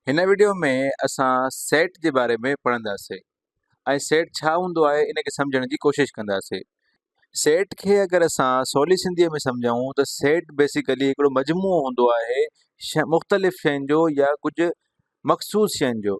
هن وڊيو ۾ اسان سيٽ جي باري ۾ پڙهنداسين ۽ سيٽ ڇا هوندو آهي ان کي سمجهڻ جي ڪوشش ڪنداسين. سيٽ کي اگر اسان سولي سنڌيء ۾ سمجهون ته سيٽ بيسيڪلي هڪڙو مجموعو هوندو آهي مختلف شين جو يا ڪجهه مخصوص شين جو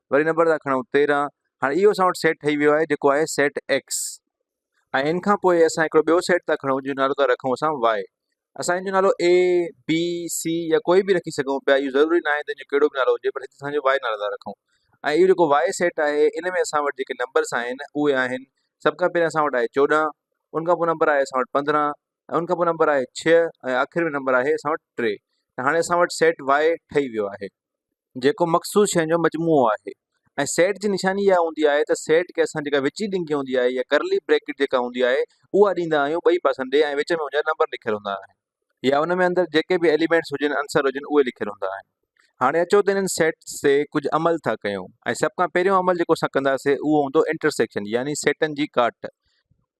وري نمبر ٿا کڻون تيرهن هاڻي اهو اسان وٽ سيٽ ٺهي ويو آهي جيڪو آهي سيٽ ايڪس ۽ ان کان پوء اسان هڪڙو ٻيو سيٽ ٿا کڻون جنهن جو نالو ٿا رکون اسان واء اسان ان جو نالو اي بي سي يا ڪوئي به رکي سگهون پيا اهو ضروري ناهي ته ان جو ڪهڙو به نالو هجي پر هتي اسان جو واء نالو ٿا رکون ۽ اهو جيڪو واء سيٽ آهي ان ۾ اسان وٽ جيڪي نمبرس آهن اهي آهن سڀ کان پهريان اسان وٽ آهي چوڏهن ان کان پوء نمبر آهي اسان وٽ پندرهن ۽ ان کان پوء نمبر آهي ڇهه ۽ آخر ۾ نمبر آهي اسان وٽ ٽي ته هاڻي اسان وٽ سيٽ واء ٺهي ويو آهي جيڪو مخصوص شين جو مجموعو آهي ۽ سيٽ جي نشاني اها هوندي آهي ته سيٽ کي اسان جيڪا وچي ڏنگي هوندي آهي يا ڪرلي بريڪٽ جيڪا هوندي آهي اها ڏيندا آهيون ٻئي پاسن ڏي ۽ وچ ۾ ان جا نمبر لکيل هوندا آهن يا ان ۾ اندر جيڪي به ايليمينٽس هجن عنصر هجن اهي لکيل هوندا آهن هاڻي اچو ته انهن سيٽس تي ڪجهه عمل ٿا ڪيون ۽ سڀ کان پهريون عمل جيڪو اسان ڪنداسي اهو هوندو انٽرسيڪشن يعني سيٽن جي ڪاٽ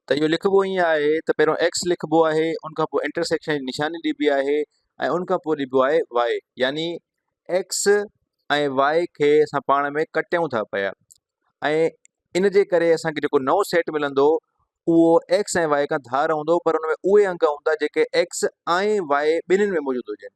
ته اهو لکبو ائين آهي ته پهريون ايڪس لکبو آهي ان کان پوء انٽرسيڪشن جي نشاني ڏبي آهي ۽ ان کان پوء ڏبو آهي واء يعني ايڪس ۽ واء کي اسان پاڻ ۾ ڪٽيون ٿا پيا ۽ ان جي ڪري اسان کي جيڪو نئون سيٽ ملندو اهو ايڪس ۽ واء کان ڌار هوندو پر ان ۾ اهي انگ هوندا جيڪي ايڪس ۽ واء ٻنهين ۾ موجود هجن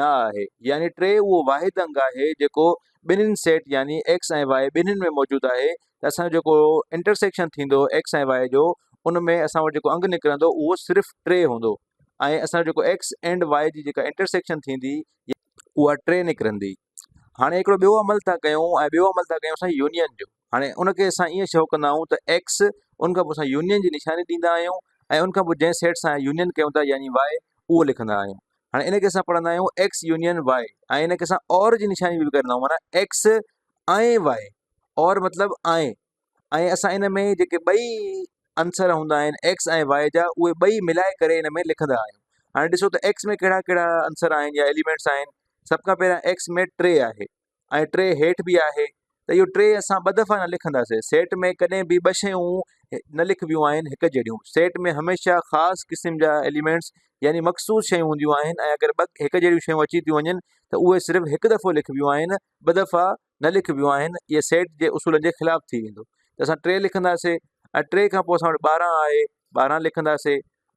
نه آهي يعني ٽي اهو واحد انگ آهي جيڪو ٻنهين سيٽ يعني ايڪس ۽ واء ٻنهين ۾ موجود آهي ته اسان جو جيڪو انٽرسيڪشن ٿيندو ايڪس ۽ واء جو ان ۾ اسان وٽ جيڪو انگ نڪرندو اهو صرف ٽي هوندو ۽ اسان جو جيڪو ايڪس اينڊ واء جي جيڪا انٽرسيڪشن ٿيندي اها ٽي نڪرندي. هاڻي هڪڙو ٻيو عمل ٿا ڪيون ۽ ٻيو عمل ٿا ڪيون اسان يونين جو هاڻي ان کي اسان ائين شو ڪندا آهيون ته ايڪس ان کان پوء اسان يونين جي نشاني ڏيندا آهيون ۽ ان کان پوء جنهن سيٽ سان يونين ڪيون ٿا يعني واء اهو لکندا آهيون هاڻي ان کي اسان پڙهندا آهيون ايڪس يونين واء ۽ ان کي اسان اور جي نشاني به ڪرندا آهيون مانا ايڪس آئين واء اور مطلب آئين ۽ اسان ان ۾ جيڪي ٻئي عنصر هوندا آهن ايڪس ۽ واء جا اهي ٻئي ملائي ڪري ان ۾ لکندا آهيون هاڻي ڏسو ته ايڪس ۾ ڪهڙا ڪهڙا عنصر آهن يا ايليمينٽس آهن سڀ کان پهريان ايڪس ۾ ٽي آهي ۽ ٽي هيٺ بي آهي ته اهو ٽي اسان ٻه دفعا نه لکندا سيٽ ۾ ڪڏهن به ٻه شيون نه لکبيون آهن هڪ جهڙيون سيٽ ۾ هميشه خاص قسم جا ايليمينٽس يعني مخصوص شيون هونديون آهن ۽ اگر ٻه هڪ جهڙيون شيون اچي ٿيون وڃن ته اهي صرف هڪ دفعو لکبيون آهن ٻه دفعا نه لکبيون آهن اهي سيٽ جي اصولن جي خلاف ٿي ويندو ته اسان ٽي لکنداسي ۽ ٽي کان پوء اسان وٽ ٻارهن آهي ٻارهن لکنداسي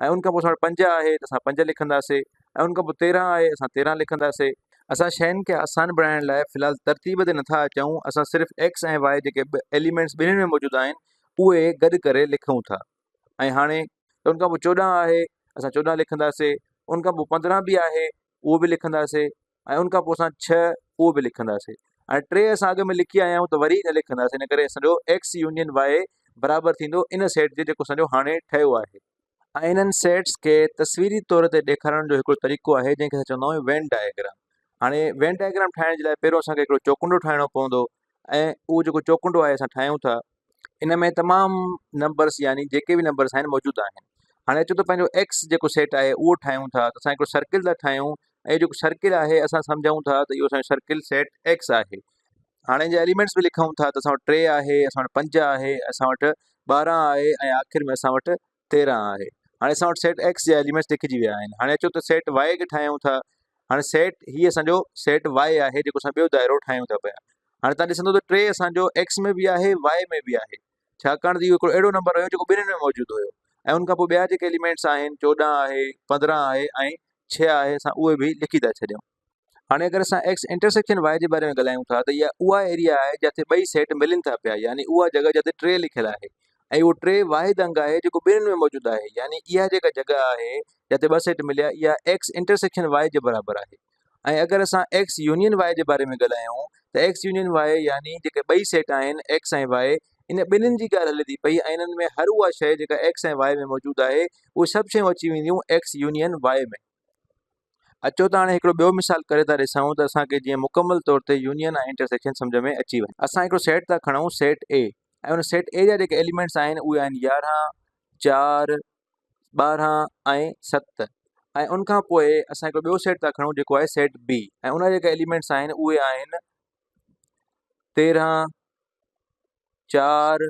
۽ ان کان پوء اسان وٽ پنج آهي ته اسان پنج لکنداسي ۽ ان کان پوء تيرهن آهي اسان تيرهن لکنداسي. اسان شين کي آسان بڻائڻ لاء في الحال ترتيب تي نٿا اچون اسان صرف ايڪس ۽ واء جيڪي به ايليمينٽس ٻنهين ۾ موجود آهن اهي گڏ ڪري لکون ٿا ۽ هاڻي ته ان کان پوء چوڏهن آهي اسان چوڏهن لکنداسي ان کان پوء پندرهن به آهي اهو به لکنداسي ۽ ان کان پوء اسان ڇهه اهو به لکنداسين ۽ ٽي اسان اڳ ۾ لکي آيا آهيون ته وري نه لکنداسين ان ڪري اسان جو ايڪس يونين وائي برابر ٿيندو ان سيٽ جي جيڪو اسان جو هاڻي ٺهيو آهي ۽ انهن سيٽس کي تصويري طور تي ڏيکارڻ جو هڪڙو طريقو آهي جنهن کي اسان چوندا آهيون وين ڊائگرام هاڻي وين ڊائگرام ٺاهڻ جي لاء پهريون اسان کي هڪڙو چوڪنڊو ٺاهڻو پوندو ۽ اهو جيڪو چوڪنڊو آهي اسان ٺاهيون ٿا ان ۾ تمام نمبرس يعني جيڪي به نمبرس آهن موجود آهن هاڻي اچو ته پنهنجو ايڪس جيڪو سيٽ آهي اهو ٺاهيون ٿا ته اسان هڪڙو سرڪل ٿا ٺاهيون ۽ جيڪو سرڪل آهي اسان سمجهون ٿا ته اهو اسانجو سرڪل سيٽ ايڪس آهي هاڻي جي ايليمينٽس به لکون ٿا ته اسان وٽ ٽي آهي اسان وٽ پنج آهي اسان وٽ ٻارهن آهي ۽ آخر ۾ اسان وٽ تيرهن آهي هاڻي اسان وٽ سيٽ ايڪس جا ايليمينٽس لکجي ويا آهن هاڻي اچو ته سيٽ وائي کي ٺاهيون ٿا هاڻي سيٽ هي اسان جو سيٽ وائي آهي جيڪو اسان ٻيو دائرو ٺاهيون ٿا پيا هاڻي تان ڏسندو ته ٽي اسان جو ايڪس ۾ به آهي وائي ۾ به آهي ڇاڪاڻ ته اهو هڪڙو اهڙو نمبر هيو جيڪو ٻنهي ۾ موجود هيو ۽ ان کان پوء ٻيا جيڪي ايليمينٽس آهن چوڏهن آهي پندرهن آهي ۽ ڇهه آهي اسان اهي به لکي ٿا ڇڏيون هاڻي اگر اسان ايڪس انٽرسيڪشن واء جي باري ۾ ڳالهايون ٿا ته اها اها ايريا آهي جتي ٻئي سيٽ ملن ٿا پيا يعني اها جڳهه جتي ٽي لکيل آهي ۽ اهو ٽي واحد انگ آهي جيڪو ٻنهين ۾ موجود آهي يعني اها جيڪا جڳهه آهي جتي ٻه سيٽ مليا اها ايڪس انٽرسيڪشن واء جي برابر آهي ۽ اگر اسان ايڪس يونين واء جي باري ۾ ڳالهايون ته ايڪس يونين واء يعني جيڪي ٻئي سيٽ آهن ايڪس ۽ واء ان ٻنهين جي ڳالهه هلي ٿي پئي ۽ انهن ۾ هر اها شيء جيڪا ايڪس ۽ واء ۾ موجود آهي اهي سڀ شيون اچي وينديون ايڪس يونين واء ۾ اچو ته هاڻي هڪڙو ٻيو مثال ڪري ٿا ڏسائون ته اسان کي جيئن مڪمل طور تي يونين ۽ انٽر سيڪشن سمجهه ۾ اچي وڃي. اسان هڪڙو سيٽ ٿا کڻون سيٽ اي ۽ ان سيٽ اي جا جيڪي ايليمينٽس آهن اهي آهن يارهن، چار، ٻارهن ۽ ست ۽ ان کان پوء اسان هڪڙو ٻيو سيٽ ٿا کڻون جيڪو آهي سيٽ بي ۽ ان جا جيڪي ايليمينٽس آهن اهي آهن تيرهن، چار،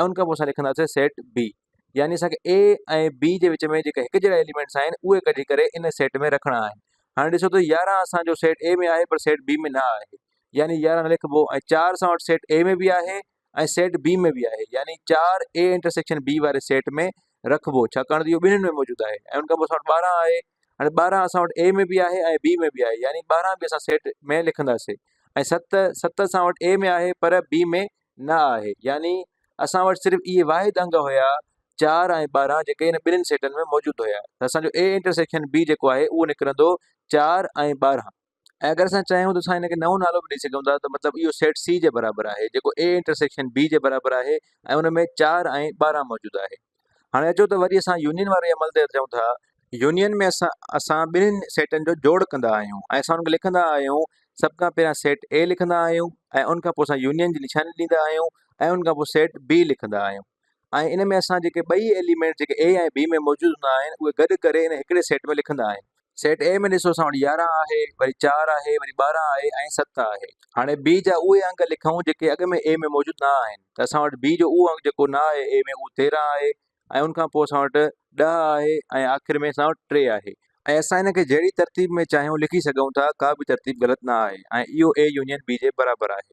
۽ ان کان پوء اسان لکنداسين سيٽ بي يعني اسان کي اي ۽ بي جي وچ ۾ جيڪا هڪ جهڙا ايليمينٽس آهن اهي ڪڍي ڪري ان سيٽ ۾ رکڻا آهن هاڻي ڏسو ته يارهن اسانجو سيٽ اي ۾ آهي پر سيٽ بي ۾ نه آهي يعني يارهن لکبو ۽ چار سان وٽ سيٽ اي ۾ به آهي ۽ سيٽ بي ۾ به آهي يعني چار اي انٽرسيڪشن بي واري سيٽ ۾ رکبو ڇاڪاڻ ته اهو ٻنهين ۾ موجود آهي ۽ ان کان پوء اسان وٽ ٻارهن آهي هاڻي ٻارهن اسان وٽ اي ۾ به آهي ۽ بي ۾ به آهي يعني ٻارهن به اسان سيٽ ۾ لکنداسين ۽ ست ست اسان وٽ اي ۾ آهي پر بي ۾ نه آهي يعني اسان وٽ صرف اهي واحد انگ هيا چار ۽ ٻارهن جيڪي هن ٻنهي سيٽن ۾ موجود هيا ته اسانجو اي انٽرسيڪشن بي جيڪو آهي اهو نڪرندو چار ۽ ٻارهن ۽ اگر اسان چاهيون ته اسان هن کي نئون نالو به ڏئي سگهون ٿا ته مطلب اهو سيٽ سي جي برابر آهي جيڪو اي انٽرسيڪشن بي جي برابر آهي ۽ ان ۾ چار ۽ ٻارهن موجود آهي هاڻي اچو ته وري اسان يونين واري عمل تي اچون ٿا يونين ۾ اسان اسان ٻنهن سيٽن جو جوڙ ڪندا آهيون ۽ اسان ان کي لکندا آهيون سڀ کان پهريان سيٽ اي لکندا آهيون ۽ ان کان پوء اسان يونين جي نشاني ڏيندا آهيون ۽ ان کان پوء سيٽ بي لکندا آهيون ۽ ان ۾ اسان جيڪي ٻئي ايليمينٽ جيڪي اي ۽ بي ۾ موجود هوندا آهن اهي گڏ ڪري ان هڪڙي سيٽ ۾ لکندا آهن. سيٽ اي ۾ ڏسو اسان وٽ يارهن آهي وري چار آهي وري ٻارهن آهي ۽ ست آهي. هاڻي بي جا اهي انگ لکون جيڪي اڳ ۾ اي ۾ موجود نه آهن ته اسان وٽ بي جو اهو انگ جيڪو نه آهي اي ۾ اهو تيرهن آهي ۽ ان کان پوء اسان وٽ ڏهه آهي ۽ آخر ۾ اسان وٽ ٽي آهي. ۽ اسان ان کي جهڙي ترتيب ۾ چاهيون لکي سگهون ٿا ڪا به ترتيب غلط نه آهي ۽ اهو اي يونين بي جي برابر آهي.